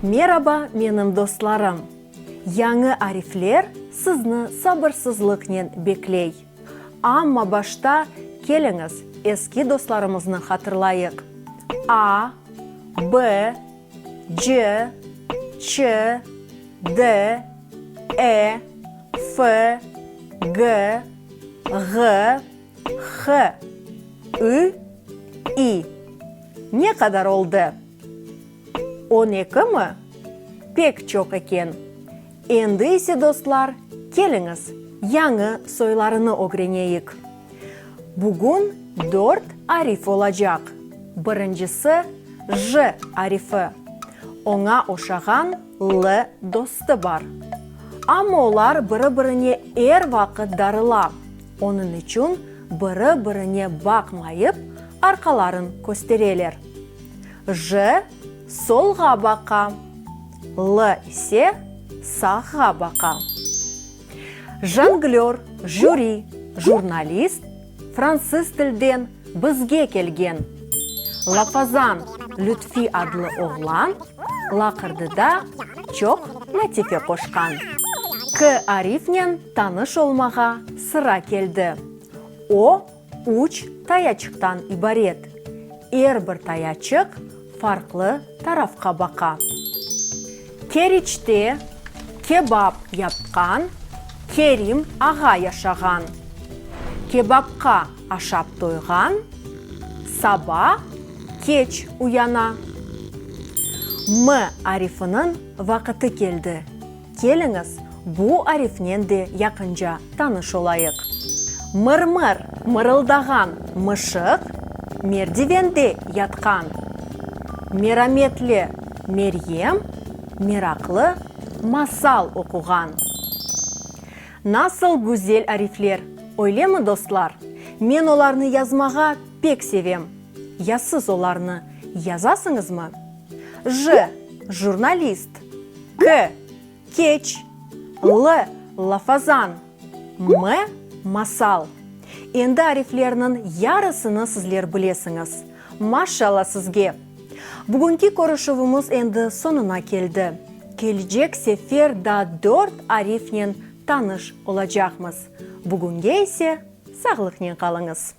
Meraba menim dostlarım! Yañı arifler sizni sabırsızlıqnen bekley. Amma başta keliñiz eski dostlarımıznı hatırlayıq, a, b, c, ç, d, e, f, g, ğ, H, Ü, İ. Ne qadar oldı? On ekimi? Pek çoq eken. Endi ise, dostlar, keliñiz, yañı soylarını ögreneyik. Bugün dört arif olacaq. Birincisi, J arifi. Oña oşağan L dostu bar. Amma olar biri-birine er vaqıt darıla. Onıñ içün biri-birine baqmayıp, arqaların köstereler. J solğa baqa, L ise sağğa baqa. Jonglör, jüri, jurnalist, fransız tilden, Bizge kelgen. Lafazan Lütfi adlı oğlan laqırdıda çoq latife qoşqan. K. Arifnen tanış olmağa sıra keldi. O, üç tayaçıqtan ibaret. Er bir tayaçıq farqlı tarafqa baqa. Keriçte kebap yapqan Kerim ağa yaşağan. Kebapqa aşap toyğan saba keç uyana. M arifiniñ vaqıtı keldi. Keliñiz, bu arifnen de yaqınca tanış olayıq. Mır-mır mırıldağan mışıq merdivende yatqan. Merametli Meryem meraqlı masal oquğan. Nasıl güzel arifler, öylemi, dostlar? Men olarnı yazmağa pek sevem. Ya siz olarnı yazasıñızmı? J, Jurnalist K, Keç L, Lafazan M, Masal Endi ariflerniñ yarısını sizler bilesiñiz. Maşşalla sizge! Bugünki körüşüvimiz endi soñuna keldi. Kelecek sefer daa dört arifnen tanış olacaqmız. Bugünge ise sağlıqnen qalıñız!